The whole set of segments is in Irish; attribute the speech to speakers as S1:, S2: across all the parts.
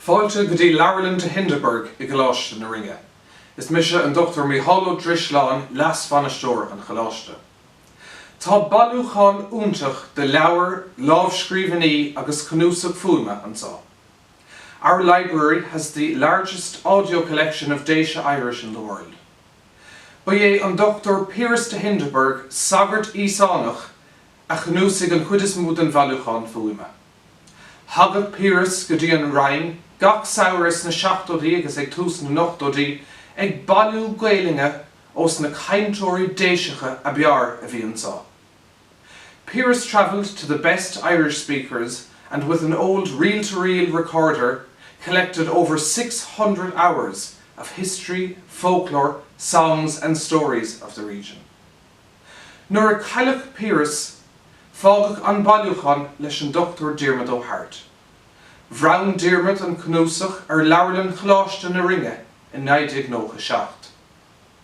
S1: Fáilte go dtí Leabharlann de Hindeberg i gColáiste na Rinne. Is mise an Dr Mícheál Ó Drisleáin, Leas-Bhainisteoir an Choláiste. Tá bailiúchán iontach de leabhair, lámhscríbhinní agus cnuasach fuaime anseo. Our library has the largest audio collection of Déise Irish in the world. Ba é an Dr Piaras de Hindeberg, sagart Íosánach, a chnuasaigh an chuid is mó den bhailiúchán fuaime. Thagadh Piaras go dtí an Rinn gach samhradh sna seachtóidí agus ag tús na n-ochtóidí ag bailiú Gaelainne ós na cainteoirí Déiseacha ab fhearr a bhí anseo. Piaras travelled to the best Irish speakers and with an old reel-to-reel recorder collected over six hundred hours of history, folklore, songs and stories of the region'. Nuair a cailleadh Piaras, fágadh an bailiúchán leis an Dr Diarmuid Ó hAirt. Bhronn Diarmuid an cnuasach ar Leabharlann Choláiste na Rinne in 1997.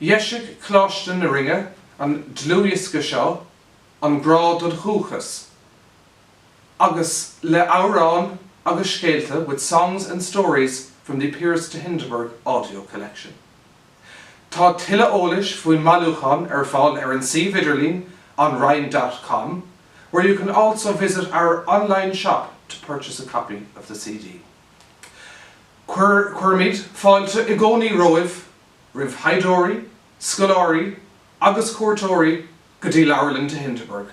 S1: Dheisigh Coláiste na Rinne an dlúthdhiosca seo, An Grá don Dúchas, agus le amhráin agus scéalta with songs and stories from the Piaras de Hindeberg audio collection. Tá tuilleadh eolais faoin mbailiúchán ar fáil ar an suíomh idirlín anrinn dot com, where you can also visit our online shop to purchase a copy of the CD. Cuirimid fáilte i gcónaí roimh, roimh thaighdeoirí, scoláirí agus cuairteoirí go dtí Leabharlann de Hindeberg.